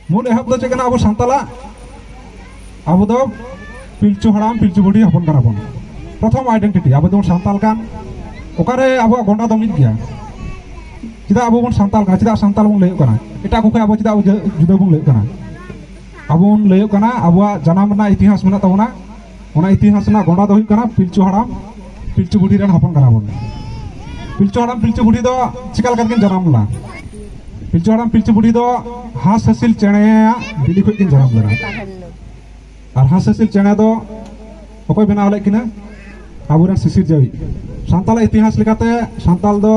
ᱢᱩᱞ ᱮᱦᱚᱵ ᱫᱚ ᱪᱮᱫ ᱠᱟᱱᱟ ᱟᱵᱚ ᱥᱟᱱᱛᱟᱞᱟᱜ ᱟᱵᱚ ᱫᱚ ᱯᱤᱞᱪᱩ ᱦᱟᱲᱟᱢ ᱯᱤᱞᱪᱩ ᱵᱩᱰᱷᱤ ᱦᱚᱯᱚᱱ ᱠᱟᱱᱟ ᱵᱚᱱ ᱯᱨᱚᱛᱷᱚᱢ ᱟᱭᱰᱮᱱᱴᱤᱴᱤ ᱟᱵᱚ ᱫᱚᱵᱚᱱ ᱥᱟᱱᱛᱟᱞ ᱠᱟᱱ ᱚᱠᱟᱨᱮ ᱟᱵᱚᱣᱟᱜ ᱜᱚᱸᱰᱟ ᱫᱚ ᱢᱤᱫ ᱜᱮᱭᱟ ᱪᱮᱫᱟᱜ ᱟᱵᱚ ᱵᱚᱱ ᱥᱟᱱᱛᱟᱞ ᱠᱟᱱᱟ ᱪᱮᱫᱟᱜ ᱥᱟᱱᱛᱟᱞ ᱵᱚᱱ ᱞᱟᱹᱭᱚᱜ ᱠᱟᱱᱟ ᱮᱴᱟᱜ ᱠᱚ ᱠᱷᱚᱱ ᱟᱵᱚ ᱪᱮᱫᱟᱜ ᱡᱩᱫᱟᱹ ᱵᱚᱱ ᱞᱟᱹᱭᱚᱜ ᱠᱟᱱᱟ ᱟᱵᱚ ᱵᱚᱱ ᱞᱟᱹᱭᱚᱜ ᱠᱟᱱᱟ ᱟᱵᱚᱣᱟᱜ ᱡᱟᱱᱟᱢ ᱨᱮᱱᱟᱜ ᱤᱛᱤᱦᱟᱥ ᱢᱮᱱᱟᱜ ᱛᱟᱵᱚᱱᱟ ᱚᱱᱟ ᱤᱛᱤᱦᱟᱥ ᱨᱮᱱᱟᱜ ᱜᱚᱸᱰᱟ ᱫᱚ ᱦᱩᱭᱩᱜ ᱠᱟᱱᱟ ᱯᱤᱞᱪᱩ ᱦᱟᱲᱟᱢ ᱯᱤᱞᱪᱩ ᱵᱩᱰᱷᱤ ᱨᱮᱱ ᱦᱚᱯᱚᱱ ᱠᱟᱱᱟ ᱵᱚᱱ ᱯᱤᱞᱪᱩ ᱦᱟᱲᱟᱢ ᱯᱤᱞᱪᱩ ᱵᱩᱰᱷᱤ ᱫᱚ ᱪᱤᱠᱟ ᱞᱮᱠᱟ ᱛᱮᱠᱤᱱ ᱡᱟᱱᱟᱢ ᱞᱮᱱᱟ ᱯᱤᱞᱪᱩ ᱦᱟᱲᱟᱢ ᱯᱤᱞᱪᱩ ᱵᱩᱰᱷᱤ ᱫᱚ ᱦᱟᱸᱥ ᱦᱟᱹᱥᱤᱞ ᱪᱮᱬᱮᱭᱟᱜ ᱵᱤᱞᱤ ᱠᱷᱚᱡ ᱠᱤᱱ ᱡᱟᱱᱟᱢ ᱞᱮᱱᱟ ᱟᱨ ᱦᱟᱸᱥ ᱦᱟᱹᱥᱤᱞ ᱪᱮᱬᱮ ᱫᱚ ᱚᱠᱚᱭ ᱵᱮᱱᱟᱣ ᱞᱮᱫ ᱠᱤᱱᱟ ᱟᱵᱚᱨᱮᱱ ᱥᱤᱥᱤᱨ ᱡᱟᱹᱣᱤ ᱥᱟᱱᱛᱟᱲᱟᱜ ᱤᱛᱤᱦᱟᱥ ᱞᱮᱠᱟᱛᱮ ᱥᱟᱱᱛᱟᱲ ᱫᱚ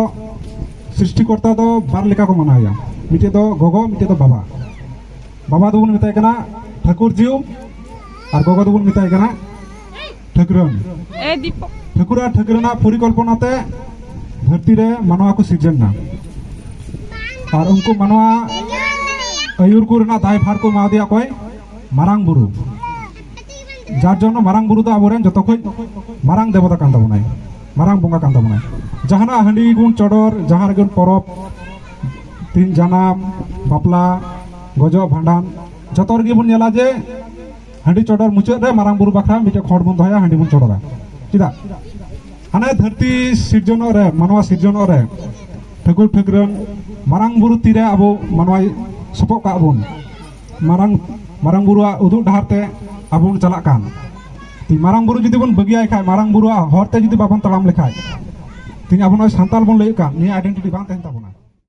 ᱥᱨᱤᱥᱴᱤᱠᱚᱨᱛᱟ ᱫᱚ ᱵᱟᱨ ᱞᱮᱠᱟ ᱠᱚ ᱢᱟᱱᱟᱣᱮᱭᱟ ᱢᱤᱫᱴᱮᱡ ᱫᱚ ᱜᱚᱜᱚ ᱢᱤᱫᱴᱮᱡ ᱫᱚ ᱵᱟᱵᱟ ᱵᱟᱵᱟ ᱫᱚᱵᱚᱱ ᱢᱮᱛᱟᱭ ᱠᱟᱱᱟ ᱴᱷᱟᱹᱠᱩᱨ ᱡᱤᱣ ᱟᱨ ᱜᱚᱜᱚ ᱫᱚᱵᱚᱱ ᱢᱮᱛᱟᱭ ᱠᱟᱱᱟ ᱴᱷᱟᱹᱠᱨᱟᱹᱱ ᱴᱷᱟᱹᱠᱩᱨ ᱟᱨ ᱴᱷᱟᱹᱠᱨᱟᱹᱱᱟᱜ ᱯᱚᱨᱤᱠᱚᱞᱯᱚᱱᱟ ᱛᱮ ᱫᱷᱟᱹᱨᱛᱤ ᱨᱮ ᱢᱟᱱᱣᱟ ᱠᱚ ᱥᱤᱨᱡᱚᱱ ᱮᱱᱟ ᱟᱨ ᱩᱱᱠᱩ ᱢᱟᱱᱣᱟ ᱟᱹᱭᱩᱨ ᱠᱚ ᱨᱮᱱᱟᱜ ᱫᱟᱭᱵᱷᱟᱨ ᱠᱚ ᱮᱢᱟᱣᱟᱫᱮᱭᱟ ᱚᱠᱚᱭ ᱢᱟᱨᱟᱝ ᱵᱩᱨᱩ ᱡᱟᱨ ᱡᱚᱱᱱᱚ ᱢᱟᱨᱟᱝ ᱵᱩᱨᱩ ᱫᱚ ᱟᱵᱚᱨᱮᱱ ᱡᱚᱛᱚ ᱠᱷᱚᱱ ᱢᱟᱨᱟᱝ ᱫᱮᱵᱚᱛᱟ ᱠᱟᱱ ᱛᱟᱵᱚᱱᱟᱭ ᱢᱟᱨᱟᱝ ᱵᱚᱸᱜᱟ ᱠᱟᱱ ᱛᱟᱵᱚᱱᱟᱭ ᱡᱟᱦᱟᱱᱟᱜ ᱦᱟᱺᱰᱤ ᱜᱩᱱ ᱪᱚᱰᱚᱨ ᱡᱟᱦᱟᱸ ᱨᱮᱜᱮ ᱯᱚᱨᱚᱵᱽ ᱛᱤᱱ ᱡᱟᱱᱟᱢ ᱵᱟᱯᱞᱟ ᱜᱚᱡᱚᱜ ᱵᱷᱟᱸᱰᱟᱱ ᱡᱚᱛᱚ ᱨᱮᱜᱮ ᱵᱚᱱ ᱧᱮᱞᱟ ᱡᱮ ᱦᱟᱺᱰᱤ ᱪᱚᱰᱚᱨ ᱢᱩᱪᱟᱹᱫ ᱨᱮ ᱢᱟᱨᱟᱝ ᱵᱩᱨᱩ ᱵᱟᱠᱷᱨᱟ ᱢᱤᱫᱴᱮᱱ ᱠᱷᱚᱸᱰ ᱵᱚᱱ ᱫᱚᱦᱚᱭᱟ ᱦᱟᱺᱰᱤ ᱵᱚᱱ ᱪᱚᱰᱚᱨᱟ ᱪᱮᱫᱟᱜ ᱦᱟᱱᱮ ᱫᱷᱟᱹᱨᱛᱤ ᱥᱤᱨᱡᱚᱱᱚᱜ ᱨᱮ ᱢᱟᱱᱣᱟ ᱥᱤᱨᱡᱚᱱᱚᱜ ᱨᱮ ᱴᱷᱟᱹᱠᱩᱨ ᱴᱷᱟᱹᱠᱨᱟᱹᱱ ᱢᱟᱨᱟᱝ ᱵᱩᱨᱩ ᱛᱤᱨᱮ ᱟᱵᱚ ᱢᱟᱱᱣᱟᱭ ᱥᱚᱯᱚᱜ ᱠᱟᱜ ᱵᱚᱱ ᱢᱟᱨᱟᱝ ᱢᱟᱨᱟᱝ ᱵᱩᱨᱩᱣᱟᱜ ᱩᱫᱩᱜ ᱰᱟᱦᱟᱨ ᱛᱮ ᱟᱵᱚ ᱵᱚᱱ ᱪᱟᱞᱟᱜ ᱠᱟᱱ ᱛᱤ ᱢᱟᱨᱟᱝ ᱵᱩᱨᱩ ᱡᱩᱫᱤ ᱵᱚᱱ ᱵᱟᱹᱜᱤᱭᱟᱭ ᱠᱷᱟᱡ ᱢᱟᱨᱟᱝ ᱵᱩᱨᱩᱣᱟᱜ ᱦᱚᱨ ᱛᱮ ᱡᱩᱫᱤ ᱵᱟᱵᱚᱱ ᱛᱟᱲᱟᱢ ᱞᱮᱠᱷᱟᱡ ᱛᱤᱦᱤᱧ ᱟᱵᱚ ᱱᱚᱜᱼᱚᱭ ᱥᱟᱱᱛᱟᱞ ᱵᱚᱱ ᱞᱟᱹᱭᱮᱫ ᱠᱟᱱ ᱱᱤᱭᱟᱹ ᱟᱭᱰᱮᱱᱴᱤᱴᱤ ᱵᱟᱝ ᱛᱟᱦᱮᱱ ᱛᱟᱵᱚᱱᱟ